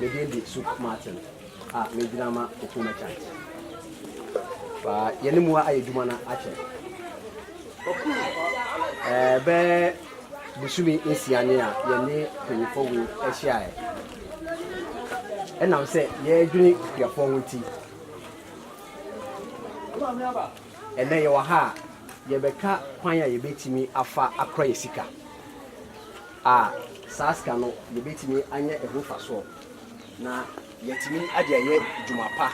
Me din de Soup Martin a megyina ma Kofi Merchant. Ba yɛne mu ayɛ adwuma no akyɛ. Ɛɛ bɛɛ busumi nsia ne a yɛne mpanyinfoɔ wei ahyiaeɛ. Ɛnam sɛ yɛredwene akuafoɔ ho nti. Ɛnnɛ yɛwɔ ha a, yɛbɛka kwan a yɛbɛtumi afa akora yɛn sika a saa sika no yɛbɛtumi anya ɛho mfasoɔ na yɛatumi ade ayɛ dwuma pa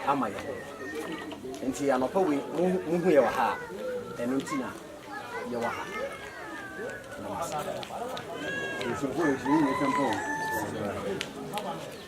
ama yɛn ho. Nti anɔpa wei mohu yɛwɔ ha a, ɛno nti na yɛwɔ ha. Namaste.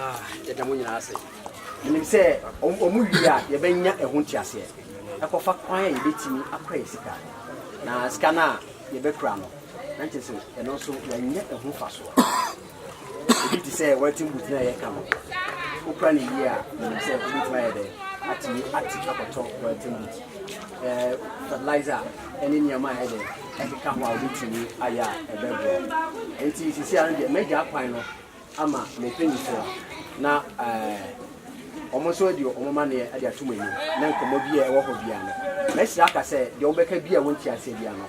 Ah, yɛda mo nyinaa ase menim sɛ ɔmo wie a yɛbɛnya ɛho nteaseɛ ɛkɔfa kwan a yɛbɛtumi akɔ yɛ sika na sika no a yɛbɛkura no na nkyɛ sɛ ɛno nso yɛanya ɛho fa soɔ Ebi te sɛ wɛten but no a yɛka no. Wokura no yie a, menim sɛ wobɛtumi ayɛ dɛ atumi ate akɔtɔ wɛten but. Eh, fertilizer ne nneɛma a ɛdɛ ɛkeka ho a wobɛtumi ayɛ a ɛbɛboa. Enti sisi ano deɛ magya akwan no ama me mpanyinfoɔ na eh, wɔn nso adi wɔn maneɛ adi ato mo anim na nkɔmmɔ bi a ɛwɔ hɔ biara no, mɛsrɛ aka sɛ deɛ wɔbɛka bi a wɔnti aseɛ biara no,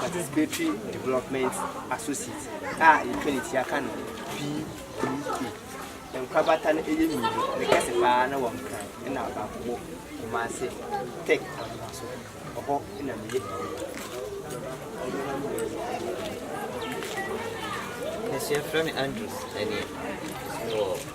Participatory Development Associate a yɛtwa ne ti aka no PDA. Nkorabata no yɛ mmienu, ne kɛse paa na wɔ Nkran na baako wɔ Kumase Tech Anoma so. Ɔhɔ na meyɛ Nsuafrɛ me Andrews ɛneɛ wɔ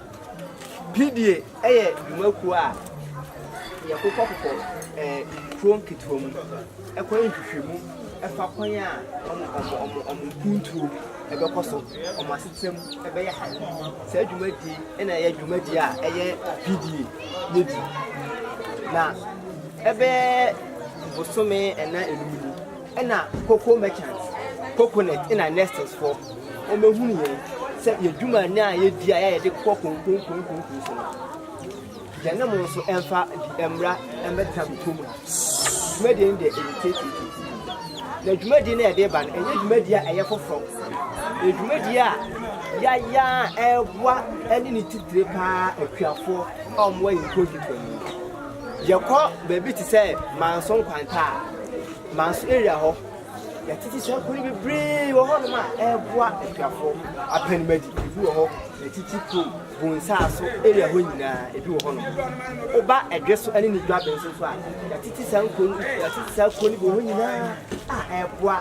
Pidie yɛ dwumakuo a yɛkokɔkokɔ nkuro nketewa mu kɔyɛ nhwehwɛmu fa kwan a wɔn mpuntuo bɛkɔ so, wɔn asetram bɛyɛ han. Saa dwumadie yi na ɛyɛ dwumadie a ɛyɛ pidie no di. Na ɛbɛyɛ bosome nnan nnum ni. Ɛna cocoa merchants, coconut ɛna nesters foɔ, wɔn bɛhunu yɛn sɛ yɛ dwuma no a yɛdi a yɛde kɔ konkonkonkonko so no, yɛne mo nso ɛmfa bi mmra ɛmbɛtra mo kurom ha. Dwumadie no deɛ ɛyɛ titititi. Na dwumadie no a ɛde ba no, ɛnyɛ dwumadie a ɛyɛ foforɔ. Ɛyɛ dwumadie a yɛayɛ a ɛreboa ɛne ne titire paa akuafoɔ a wɔwɔ yɛn nkuro mfimfini. Yɛkɔ baabi te sɛ Manso Nkwanta a, Manso area hɔ, yɛatete suapɔn bebree wɔ hɔnom a ɛreboa akuafoɔ. Apanimadi, ebi wɔ hɔ. Yɛatete kurom, Bonsaaso area hɔ nyinaa, ebi wɔ hɔnom. Woba Ɛdwe so ne ne dwaben so nso a, yɛatete saa nkuro no, yɛatete saa kuo no bi wɔ hɔ nyinaa a ɛreboa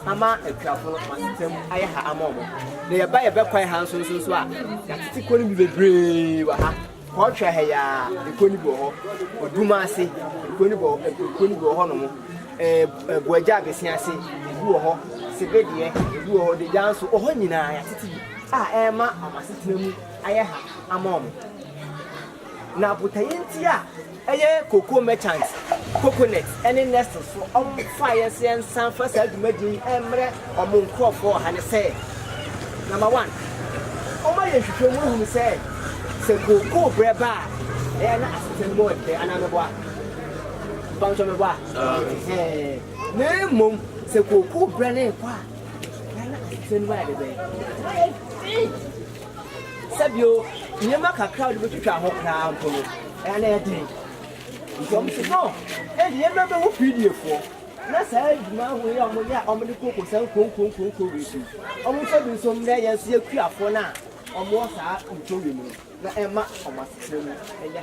ama akuafo no wɔn asetam ayɛ ha ama wɔn. Na yɛba yɛbɛ kwan ha nso nso nso a, yɛatete kuo no bi bebree wɔ ha. Kɔ twa ha yi ara, ekuo no bi wɔ hɔ, odum ase, ekuo no bi wɔ ekuo no bi wɔ hɔ nom, ɛɛ buagya abɛsi ase, ebi wɔ hɔ, sebedeɛ, ebi wɔ hɔ, degya nso, wɔ hɔ nyinaa yɛatete bi a ɛrema wɔn asetena mu ayɛ ha ama wɔn. Na botaeɛ nti a. Ɛyɛ cocoa merchants, coconuts ne nestles fo ɔm faeɛ sɛ yɛnsan fa saa dwumadie yi ɛmmerɛ ɔmo nkorɔfoɔ wɔ ha ne sɛ, Number one, ɔmo ayɛ nhwehwɛ mu ahunu sɛ sɛ cocoa berɛ ba a ɛyɛ na asete no mu yɛ dɛ anaa meboa? Mpawokyɛw meboa? Ɛhɛɛɛ. Na mmom sɛ cocoa berɛ no rekɔ a ɛyɛ na asete no mu ayɛ dɛ bɛn? Ɛma yɛ den. sɛ bio, nneɛma kakra a wɔde betwitwa ho koraa mpo no, ɛyɛ na ɛyɛ den. Nti wɔsi no, ɛnde yɛmmra mmehu Fiidifoɔ na saa adwuma ahorow yi a wɔyɛ a wɔde koko saa nkuronkuronkuronkuro wei so yi, wɔmfa bi nso mmrɛ yɛn nso yɛakuafoɔ no a wɔwɔ saa nkuro wei mu no, na ɛmma wɔn asetra mu nyɛ hare.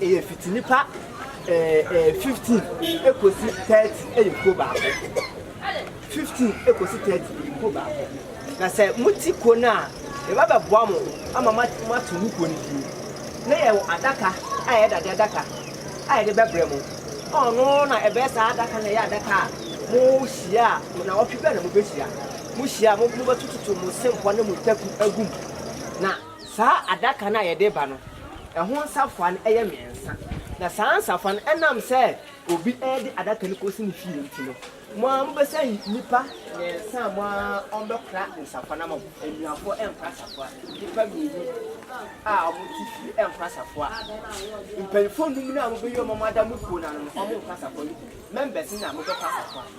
Ɛyɛ fiti nipa ɛɛ ɛɛ fifteen ekosi thirty ɛyɛ kuo baako. Fifteen ekosi thirty ɛyɛ kuo baako. Na sɛ mo ti kuo no a, yɛba bɛ boa mo ama mo mo ato mo kuo no fie. Na yɛ wɔ adaka a yɛ dade adaka a yɛde bɛ brɛ mo. Ɔno na ɛbɛyɛ saa adaka na ɛyɛ adaka a mo hyia a na wɔtwe bɛ na mo bɛ hyia. Mo hyia a mo mo bɛ tototo mo sempɔ ne mo taku ɛgu mu. Na. Saa adaka no a yɛde reba no, ɛho nsafoa no yɛ mmiɛnsa, na saa nsafoa no, ɛnam sɛ obi de adaka no kɔsi ne fie nti no, mo ara mobɛsan ayi nnipa mmiɛnsa a mo ara wɔbɛkora nsafoa no ama mo. Anuafoɔ nkora safoa, nnipa mmienu a wɔte fie nkora safoa. Mpanimfoɔ nnum no a mobɛyi wɔn a wɔada mo kuo no ano no, wɔnkora safoa no bi. Members no na mobɛkora safoa.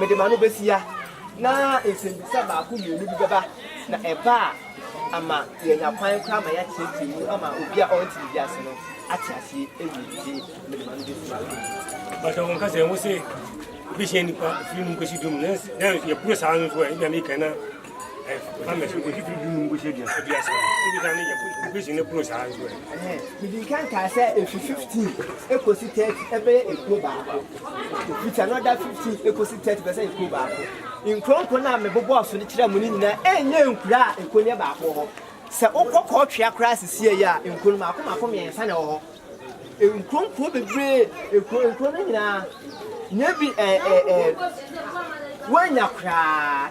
Mede m'ano behyia, na nsɛmmisa baako mmienu bi bɛba, na ɛba a, ama yɛanya kwan koraa ma yɛateetee mu ama obi a ɔnte biribi ase no ate aseɛ awie. Enti mede m'ano behyia. Bata wɔn kasa ɛho sɛ ebehyia nnipa firi num kɔsi du mu, nanso yɛporo saa no nso a, ebi a meka na Mede nka nkaa sɛ efi fifteen ekosi thirty ɛbɛyɛ ekuo baako. With another fifteen ekosi thirty bɛsɛ ekuo baako. Nkuro nkuro no a mebobɔɔ so de kyerɛɛ mo no nyinaa ɛnyɛ nkuro a ekuo no yɛ baako wɔ hɔ. Sɛ wokɔ Kɔɔtwea koraa sisiɛ yi a nkuro no mako mako mmiɛnsa na ɛwɔ hɔ. Nkuro nkuro bebree ekuo nkuro no nyinaa nyɛ bi ɛɛ ɛɛ woanya koraa.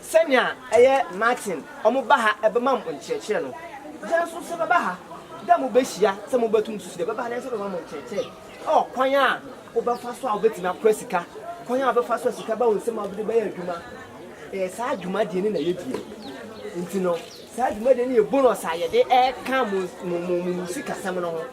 Sɛnea ɛyɛ Martin ɔmo ba ha ɛbɛma mo nkyerɛkyerɛ no, yɛn nso sɛ bɛba ha dɛ mo bɛhyia sɛ mo bɛtum susu dɛ bɛba ha na yɛn nso bɛma mo nkyerɛkyerɛ ɛwɔ kwan a wo bɛfa so a wo bɛtumi akora sika, kwan a wo bɛfa so a sika bɛba wo nsam a wo de bɛyɛ adwuma. Ɛyɛ saa dwumadie no na yɛ die nti no saa dwumadie no yɛ bonus a yɛde ɛka mo mo mo mo mo sikasɛm no ho.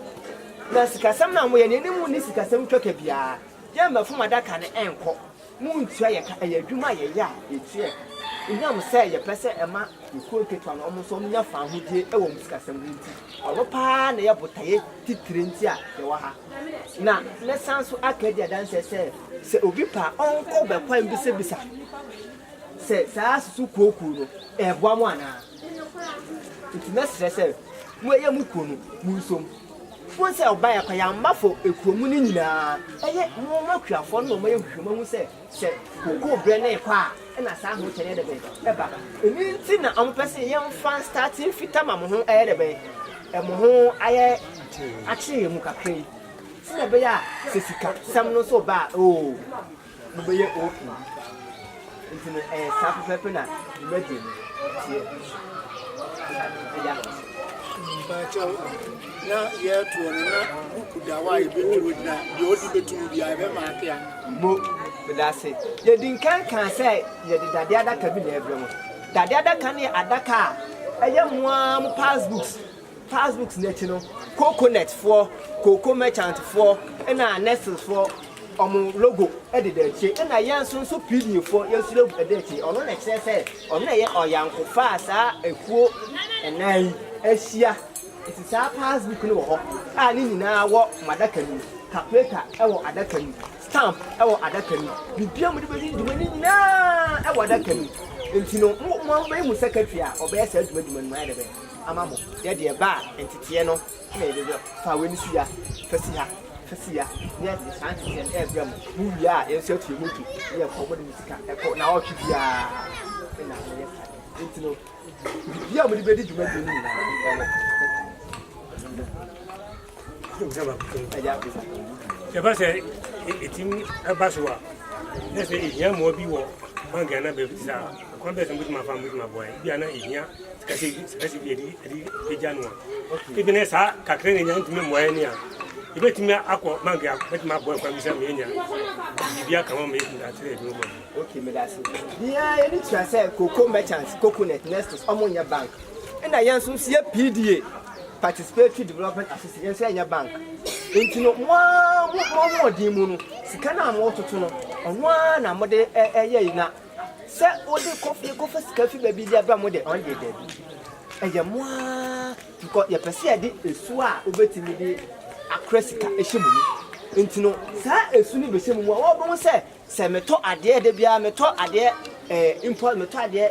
Na sikasɛm no a mo yɛ no yɛne mo nni sikasɛm twaka biara, yɛn mma fom adaka no ɛnkɔ. Muntua yɛn ka. Ɛyɛ adwuma a yɛyɛ a yetua yɛn ka. Esiane sɛ yɛpɛ sɛ ɛma yɛn kurow nketewa no nso nya fawohodie wɔ wɔn sikasɛm ho nti, ɔno paa na ɛyɛ botaeɛ titire nti a yɛwɔ ha. Na mɛsan nso aka adi adanseɛ sɛ, sɛ obi pɛ a, ɔnkɔ bɛkwan bisabisa sɛ saa susukooko no, ɛreboa mo anaa. Enti mɛsrɛ sɛ moyɛ mo kuo no, monsom. Fo sɛ ɔbaeɛ kwa yɛamma fo kurom no nyinaa. Ɛyɛ mo akuafoɔ no na wɔayɛ nhwehwɛmu ahu sɛ sɛ kokoo berɛ no rekɔ a na saa ahokyɛ no yɛ dɛ bɛn ba. Ɛno nti na wɔpɛ sɛ yɛmfa starte mfita ma mo ho ayɛ dɛ bɛn, mo ho ayɛ akyere mu kakra yi sɛdeɛ ɛbɛyɛ a sɛ sikasɛm no nso ba a, oo. mobɛyɛ OK. Nti no ɛyɛ saa pɛpɛɛpɛ na dwumadie no teɛ. Ɛda ase. Mpakyɛw, na yɛtoɔ no na buku da hɔ a yɛbɛtwerɛ gyina deɛ ɔde bɛtum bia yɛbɛma ake a. Mo, meda ase. Yɛdi nkan kaa sɛ yɛde dadeɛ adaka bi na ɛbrɛ mo. Dadeɛ adaka no yɛ adaka a ɛyɛ mo ara mo passbooks. Past books no akyi no coconut foɔ, cocoa merchant foɔ ɛna Nestle foɔ wɔn logo ɛdeda akyire ɛna yɛn nso nso Pidgin foɔ yɛn nso logo ɛda akyire ɔno na ɛkyerɛ sɛ ɔno na ɛyɛ ɔyankofa a saa akuo ɛnan yi ahyia nti saa past book no wɔ hɔ a ne nyinaa wɔ mo adaka no mu calculator ɛwɔ adaka no mu stamp ɛwɔ adaka no mu biribiara mo de bɛdi dwuma no nyinaa ɛwɔ adaka no mu nti no mo mo bɛyɛ mo secretary a ɔbɛyɛ saa dwuma dwuma no mo ayɛ dɛ bɛyɛ. ama mo, yɛ deɛ ɛba a nteteɛ no na yɛde brɛ mo. Fa wei no si ha, fa si ha, fa si ha, na yɛde saa nteteɛ no rebrɛ mo. Mowie a, yɛn nso atua moto na yɛkɔ, mode mo sika kɔ naawɔtwe biara na moyɛ saa. Nti no, biribiara a mode bɛdi dwuma bio no nyinaa, ɛwɔ. Ɛba sɛ ɛtumi ɛba so a na sɛ ɛhia mmoa bi wɔ bank anaa baabi te saa kwan bɛɛ sɛ mobɛtumi afa mobɛtumi aboa ɛ bi a na ɛhia sikasɛ bi ɛde ɛgya no a ebi ne saa kakra ne nya ntumi mmoa ɛne a yɛbɛtumi akɔ bank a bɛtumi aboa kwan bi sɛ meyɛnya biribi aka ma meyɛ datere ɛbi mobɔ ok medase biaa ɛne tua sɛ koko merchant coconut nestos ɔmo nyɛ bank Ɛna yɛn nso yɛ PDA, Participatory Development Assistance, yɛn nso yɛnyɛ bank. Nti no mo ara mo ahoɔden mu no, sika no a mototo no, ɔno ara na mode ɛyɛ yi na sɛ wode kɔfie kɔfa sika fi baabi de abra mo de, ɔno deɛ daabi. Ɛyɛ mo ara because yɛpɛ sɛ yɛde esu a wobɛtumi de akora sika ɛhyɛ mo mu. Nti no saa esu no bɛhyɛ mo mu a wɔbɛhu sɛ sɛ metɔ adeɛ da biara, metɔ adeɛ eh, impulse, metɔ adeɛ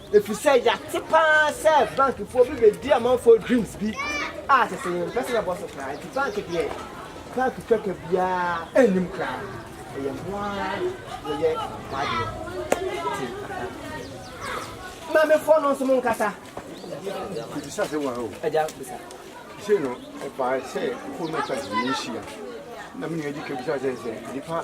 Efisɛ yɛate paa sɛ bankfoɔ bi bɛdi amanfoɔ dreams bi a sɛsɛ yɛn mpɛ sɛ yɛbɔ so koraa nti bank deɛ bank twaka biara nnim koraa ɛyɛ ho ara yɛyɛ ho adeɛ nti aha maamefoɔ no nso mo nkasa bisa sɛ wɔn o ɛgya bisa sɛ no ɛbaa sɛ fo no ta sɛ yɛhyia na me nua di ka bisa sɛ sɛ nipa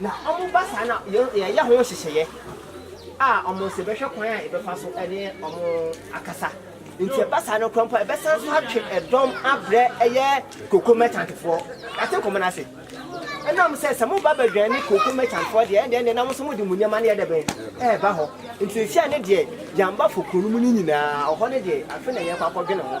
Na wɔba saa na yɛyɛ ho nhyehyɛeɛ a wɔn nso yɛbɛhwɛ kwan a yɛbɛfa so ne wɔn akasa. Nti ɛba saa no koraa mpo a yɛbɛsan so atwe ɛdɔm abrɛ ɛyɛ cocoa merchantfoɔ. Yɛate nkɔmmɔ no ase. Ɛna wɔn sɛ sɛ moba bɛdwɛn ne cocoa merchantfoɔ deɛ ɛndeɛ ɛndeɛ na wɔn nso mode mo nneɛma no yɛ dɛ bɛn ɛreba hɔ. Nti seesei ne deɛ yɛamba fo kuro no mu no nyinaa ɔhɔ no deɛ afe na yɛrekɔ akɔdwene ho.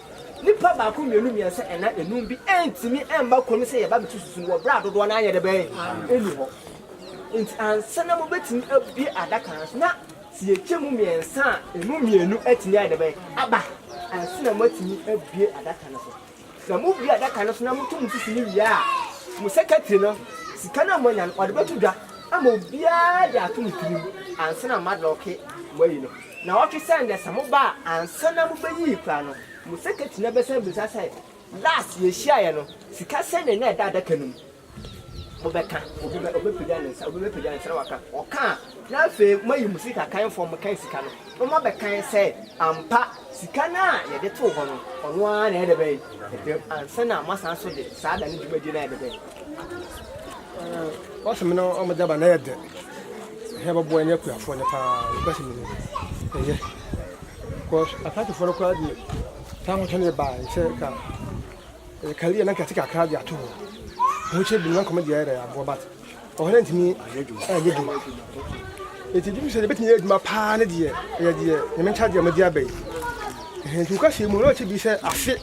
Nipa baako mmienu mmiɛnsa ɛnan enum bi ɛntumi ɛmma kurom sɛ yɛba bɛtu susu no wɔ berɛ a dodoɔ no anyɛ dɛ bɛn ɛni hɔ. Nti ansa na mobɛtumi abue adaka no so na sɛ yɛkyɛ mu mmiɛnsa a ɛmu mmienu atumi ayɛ dɛ bɛn aba ansa na moatumi abue adaka no so. Sɛ mobue adaka no so na moto mo susu no wie a, mo sɛkɛtiri no sika no a moanya no ɔde bɛto dwa ama obiara de ato ne tirim ansa na moadlɔke mo ayi no. Na ɔtwe sɛ ndɛ sɛ mo baa ansa na mo bɛyii koraa no mo sɛkɛtri no bɛsan bisa sɛ last yɛhyiaeɛ no sika sɛnee na ɛda adaka no mu mo bɛka obi bɛ ɔbɛ pagya ne nsa obi bɛ pagya ne nsa na waka ɔka a na afei mo ayi mo sika kan fɔm mo kan sika no na mo abɛ kan sɛ ampa sika no a yɛde too hɔ no ɔno ara na ɛdɛ bɛn ɛdɛm ansa na mo asan so de saa da no dwumadie no a ɛdɛ bɛn. Wɔse me ne wɔn gyaba na ɛyɛ dɛ, hɛn bɛboa nye akuafoɔ no paa nokwasɛm ni ɛyɛ because apatefoɔ no koraa deɛ saa ahotɔ no yɛ baa sɛ ka ɛyɛ career na nkɛte kakra de ato hɔ ho kyɛ binom nkɔmɔ deɛ ɛyɛ aboa but ɔhɔ no ntumi ɛyɛ adwuma ɛti gye sɛ yɛbɛtumi yɛ adwuma paa ne deɛ ɛyɛ deɛ nyame nkyɛdeɛ mode aba yi nti nokwasɛm mu na ɔkyɛ bi sɛ afe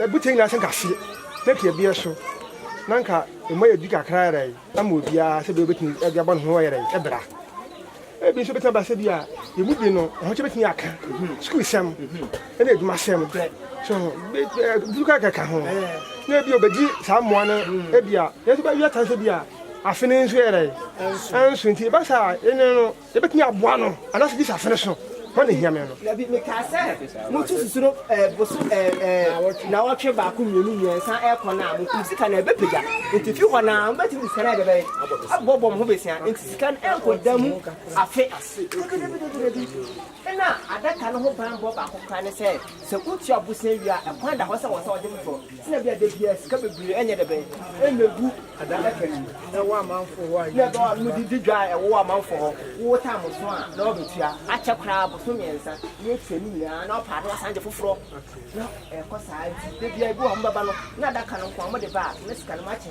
Ebutse nyina sɛ kase na pii bea so na nka mma yɛdi kakra yerɛe ama obiara sɛdeɛ obetumi de abɔ ne ho ɔyerɛe bra. Ebi nso betumi aba sɛ bi a yɛn mu bi no ɛho kyɛ betumi aka sukuu sɛm ɛna adwuma sɛm so ho bi kɔ ɛkɛka ho na ebi obedi saa mmoa no ebi a yɛn nso bɛyɛ tan sɛ bi a afei ne nso yɛrɛe ɛnso nti ɛba saa ɛne no Yɛbɛtumi aboa no anaasɛ gye sɛ asene so hɔ na ɛhia me no. Dabi, mekaa sɛ moto susu no boso naawɔtwe baako mmienu mmiɛnsa ɛrekɔ no a, mokum sika no a, ɛbɛpagya. Nti fi hɔ no ara mobɛtumi de sika no ayɛ bɛbɛn? Aboaboa mo ho bɛsia. Nti sika no ɛrenkɔ da mu afe. Dabi, dabi, dabi, dabi. Nna adaka no ho bambɔ baako koraa ne sɛ, sɛ wotua bo sɛn wie a, kwan da hɔ sɛ wɔsan wɔde foforɔ. Nna bi a da biara sika bebree nyɛ dɛ bɛn na ɛbɛgu adaka no mu, na ɛwɔ amanfoɔ hɔ a yɛdi dwa. Nna wɔde di dwa a ɛwɔ amanfoɔ hɔ, wo tam so a, na wɔbɛtua. Akyɛ koraa bosome mmiɛnsa na wɔatua ne nyinaa, na wɔpaane wɔsan gye foforɔ. Na ɛkɔ saa nti, da biara bi wɔ hɔ a wɔbɛba no, na adaka no nko ara wɔde ba a, na sika no mu akyɛ.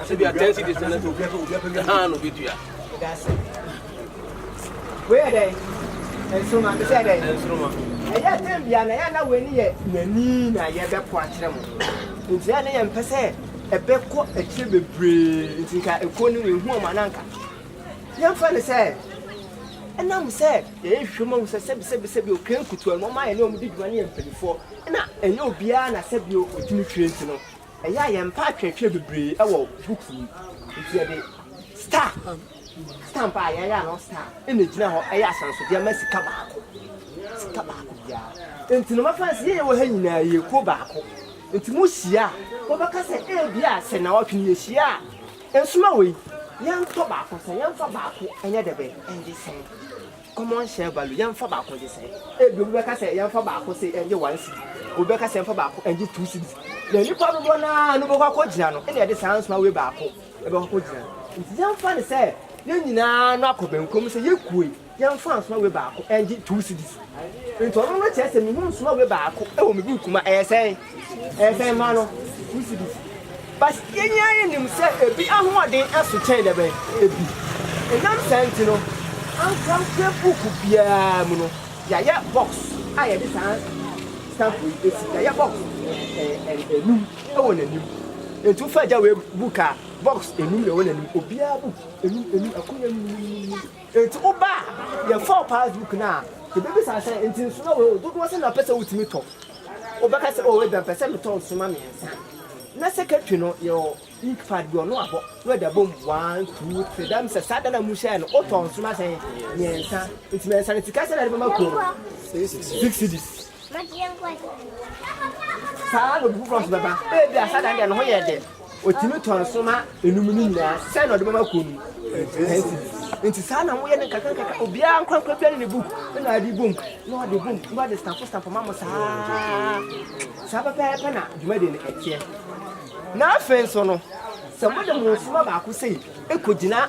Ase bi a ten cities na ɛsɛ obi obi apɛ bi haa na obi dua. Ɛdaase. Wei yɛ dɛ. Nsoroma bi sɛ dɛ. Nsoroma. Ɛyɛ ten bia na yɛ na wei ni yɛ yɛni na yɛ bɛ kɔ akyerɛ mo. Nti yɛ na yɛ mpɛ sɛ ɛbɛ kɔ akyire bebree nti nka ekuo no yɛ hu ɔmo ananka. Yɛn fɛ ne sɛ ɛnam sɛ yɛ yɛ hwɛ mu ahu sɛ sɛbi sɛbi sɛbi o kɛn kutu ɛno ɔmo ayɛ ne ɔmo di dwuma ne yɛ mpanyinfoɔ ɛna ɛnyɛ obiara na sɛbi o otumi hwɛ nti no Ɛyɛ a yɛmpɛ atwerɛtwerɛ bebree wɔ books mu nti yɛde star, stamp a yɛayɛ ano star na ɛgyina hɔ yɛ ahyɛnsodeɛ ma sika baako, sika baako biara. Nti no mɛfa no sɛ yɛyɛ wɔ ha nyinaa yɛ kuo baako nti mohyia a mobɛka sɛ ebi a sɛ nnawɔtwe no yɛhyia a nsoma wei yɛntɔ baako sɛn, yɛmfa baako nyɛ dɛbɛn, ɛnyɛ sɛn. Common share value, yɛmfa baako gye sɛ. Ebia obi bɛka sɛ yɛmfa baako se ɛngye one cedi, obi bɛka sɛ yɛmfa baako ɛngye two cedis. Na nnipa dodoɔ no ara no bɛkɔ akɔgyina no, ɛna ɛde saa nsoawe baako ɛbɛkɔ akɔgyina no. Nti yɛmfa no sɛ yɛn nyinaa no akɔ bɛnkom sɛ yɛkue, yɛmfa nsoawe baako ɛngye two cedis. Nti ɔno no kyerɛ sɛ mehu nsoawe baako ɛwɔ me buuku mu a, ɛyɛ sɛn? Ɛbɛn mma no. But yɛn ara nim sɛ ebi ahoɔden so kyɛn dɛbɛn ebi. Ɛnam saa nti no, ankorankorɛ book biara mu no, yɛayɛ box a yɛde saa stamp yi bɛsi. Yɛayɛ box nnum wɔ n'anim. Enti wofa agya wei book a, box nnum na ɛwɔ n'anim. Obiara book nnum nnum, akonnwa nnum nnum nnum. Enti woba a, yɛfa wo passbook no a, yɛbɛbisa sɛ, Enti nsono wei o, dodoɔ sɛn na wopɛ sɛ wotumi tɔ? Wobɛka sɛ, Oh, ebia mepɛ sɛ metɔ nsõma mmiɛnsa, na secretary no yɛwɔ ink pad bi, ɔno abɔ, na ɔde abɔ mu, one, two, three, that means sɛ saa da no a mohyɛɛ no, wotɔɔ nsõma sɛn? Mmiɛnsa. Nti mmiɛnsa no, sika sɛn na wode bɛma kuo no? Six cedis. Saa na obi foforɔ nso bɛba, ebia saa da no deɛ, ne ho yɛɛ dɛ. Otumi tɔn nsõma enum no nyinaa, sɛn na ɔde bɛma kuw no mu? Ten cedis. Enti saa na moyɛ no nkakrankakra, obiara ankorankora biara ne ne book na ɔde bom, na ɔde bom, na ɔde stampo stampo ma mo saa. Saa pɛpɛɛpɛ na dwumadi no ɛteɛ. Na afei nso no, sɛ mode mo nsõma baako sei kogyina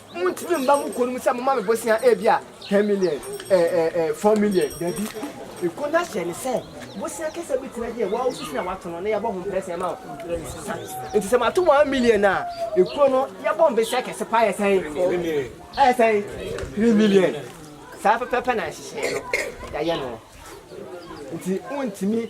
Montumi mma mo kuo no mu sɛ moma me bosea ebia ten million eh, eh, eh, four million, dabi. Ekuo no ahyɛ no sɛ bosea kɛseɛ bi tena deɛ woa wosusu na woato no na yɛbɔ ho mprɛsɛn ma wo. Nti sɛ mato one million a, ekuo no yɛbɔ mprɛsɛn kɛse paa yɛ sɛn? Ɛyɛ sɛn? Three million. Saa pɛpɛpɛ na nhyehyɛeɛ no yɛayɛ no. Nti wontumi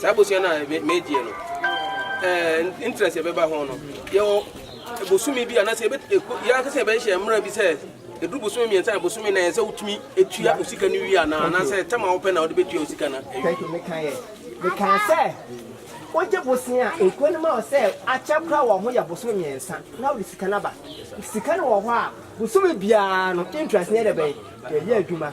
Saa abusua no a meegyeɛ no, eh, interest yɛbɛba ho no, yɛwɔ bosome bi anaasɛ yɛankasa yɛbɛhyehyɛ mmara bi sɛ ɛduru bosome mmiɛnsa na bosome na ɛsɛ wotumi tua osika no wie anaa anaasɛ tɛm a wopɛ na wode bɛtua osika no mekaa sɛ wogye bosome a nkuo no ma wɔ sɛ akyɛ kora wɔ ho yɛ bosome mmiɛnsa na wode sika no aba sika no wɔ hɔ a bosome biara no interest ne ɛdɛ bɛn yɛyɛ adwuma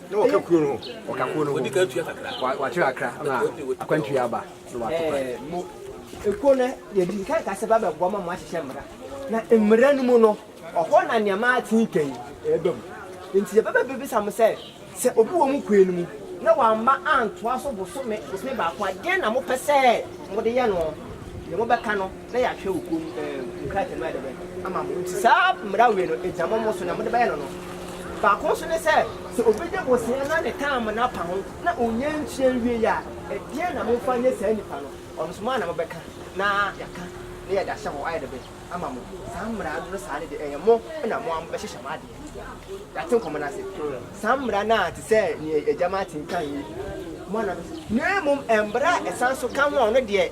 Na wɔka kuro no ho. Wɔka kuro no ho. Wɔdi ka atua kakra. Wa wakyerɛ akra na akwantu yɛ aba na wato kwan. Ɛɛ mo ekuo no yɛdi nkan kasa ba bɛboa ma mo ahyehyɛ mmara na mmara no mu no ɔhɔ na nneɛma atenkan ɛɛba mu nti yɛbɛbɛ bebisa mo sɛ sɛ obi wɔ mo kwan no mu na wamma antoa so bosome bosome baako a deɛn na mopɛ sɛ mode yɛ no deɛ mobɛka no na yɛahwɛ wo kurom nkrataa mu adɛbrɛ ama mo. Nti saa mmara wei no, egya mɔmɔ so na mode bɛyɛ no no. Baako nso ne sɛ, sɛ obi de bosea na ne taama no apa ho na ɔnnya ntua nwiei a, ɛdeɛn na momfa nyɛ saa nipa no? Ɔno nso, mo ara na mobɛka na yɛaka na yɛde ahyɛ hɔ ayɛ dɛbrɛ ama mo. Saa mmara no saa no deɛ, ɛyɛ mo na mo ara mobɛhyehyɛ mo adeɛ. Yɛate nkɔmmɔ no ase. Saa mmara no a te sɛ nea Agya Martin kaeɛ yi, mo ara na mobɛhyɛ. Na mmom mmara a ɛsan so ka ho a ɔno deɛ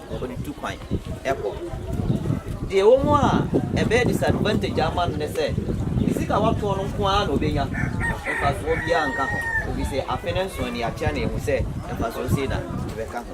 na wɔde tu kwan kɔ. Deɛ ɛwɔ mu a ɛbɛyɛ disadvantage ama no ne sɛ, ne sika a watoɔ no nko ara na ɔbɛnya, mfasoɔ biara nka ho, ɛfiri sɛ afe no nsoɔ nie, yɛakyerɛ no ahu sɛ mfasoɔ sei na ɛbɛka ho.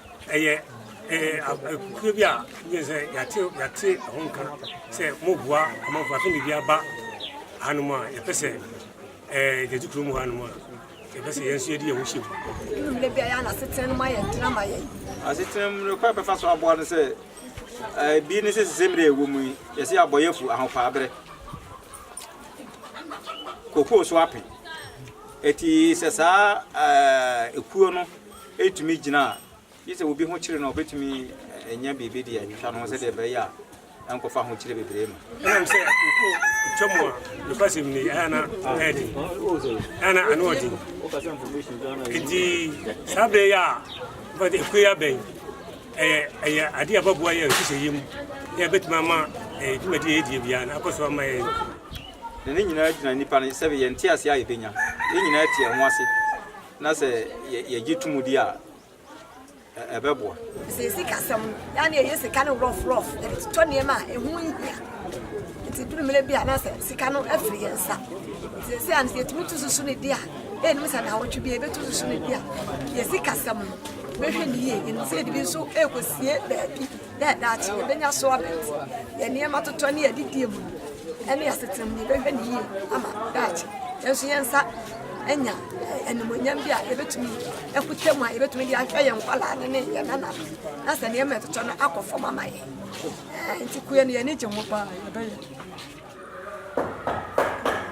ɛyɛ akuo bi a wogye sɛ yɛate ho nka sɛ moboa amanfoɔ afei ne bi aba hanom a yɛpɛ sɛ gyagye kuro mu hanom a yɛpɛ sɛ yɛn nso yɛde yɛn ho hyɛ mu mmerɛ bi ayɛ na asetena no ma yɛ ntena ma yɛ asetena mu no kwan bɛfa so aboa no sɛ bi ne sɛ sesɛ mmerɛ ɛwɔ mu yi yɛsɛ abɔyɛfo ahopaa berɛ kokoo so ape ɛti sɛ saa ɛkuo no ɛretumi gyina a, gye sɛ obi ho kyere no a ɔbɛtumi anya biribi de atwitwa no ho sɛdeɛ ɛbɛyɛ a ɛnkɔfa ahokyere bebree ma. ɛnam sɛ wokɔ twa mu a nokwasɛm ni ɛyɛ na ɛyɛ den ɛyɛ na ano ɔden nti saa berɛ yɛ a wobɛde ɛkue abɛn ɛyɛ ɛyɛ adeɛ ababoa yɛ nhyehyɛeɛ mu na ɛbɛtumi ama ɛyɛ dwumadi a ɛdie biara na akɔ so ama yɛ na ne nyinaa gyina nnipa no sɛ yɛnte ase a yɛbɛnya yɛn nyinaa te ɛho ase Na sɛ yɛgye tom di a, ɛbɛboa. Sɛ sikasɛm no, na ne yɛyɛ sika no rɔfrɔf, yɛde totɔ nneɛma a ɛho nhia. Nti duru mmerɛ bi a na sɛ sika no afiri yɛn nsa. Sɛsɛ a no sɛ yɛtumi to susu no di a, ɛnim sɛ naawɔtwe bi a yɛbɛto susu no di a, yɛ sikasɛm no bɛhwɛ ne yie. Yɛnim sɛ yɛde bi nso ɛrekɔsie baabi. dɛ daakye yebenya so abɛn yɛn nneɛma totɔ ne adidie mu no ne asetram no, yɛbɛhwɛ no yie ama daakye yɛn nso yɛn nsa anya animuonyam bi a yɛbɛtumi akuta mu a yɛbɛtumi de ahwɛ yɛn nkwadaa no ne yɛn nana na sɛ nneɛma ɛtotɔ no akɔ fam ama yɛn nti kue no yɛn ani gye ho paa yɛbɛyɛ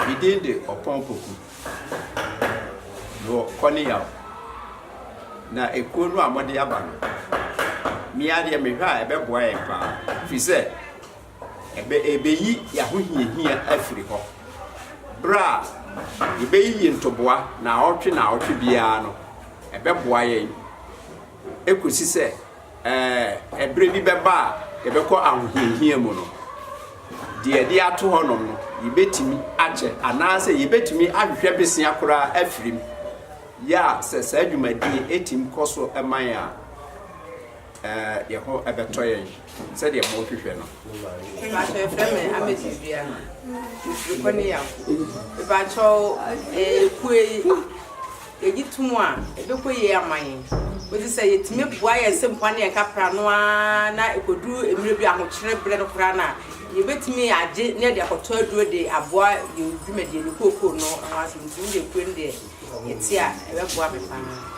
Me din de Ɔpɔn Poku. Mewɔ Kɔneyaw. Na ekuo no a wɔde aba no, me adeɛ mehwɛ a ɛbɛboa yɛn paa. Firi sɛ, ɛbɛ ɛbɛyi yɛn ahohiahia afiri hɔ. Berɛ a yɛbɛyiyi ntoboa naawɔtwe naawɔtwe biara no, ɛbɛboa yɛn kɔsi sɛ Ɛɛ, bere bi bɛba a yɛbɛkɔ ahohiahia mu no, deɛ yɛde ato hɔnom no, yebetumi akyɛ, anaasɛ yebetumi ahwehwɛ bosea koraa afiri mu. Yɛ a sɛ saa dwumadi etim kɔ so ma yɛn a, ɛɛ, yɛn ho bɛtɔ yɛn sɛdeɛ morehwehwɛ no. Ebaatɔ efrɛ me Ametis Dua. Mefiri Kɔneyaw. Ebaatɔ ɛɛ kue Yɛgye to mu a, ɛbɛkɔ yie ama yɛn. Wogye sɛ yɛtumi boa yɛn nsɛmfua ne yɛn kapra no ara na ɛkɔduru mmerɛ bi ahokyerɛ berɛ no koraa no a, yɛbɛtumi agye na yɛde akɔtɔ aduro de aboa yɛn dwumadie no kookoo no ho asɛm nti, wodeɛ kuro no deɛ yɛte a, ɛbɛboa me pa ara.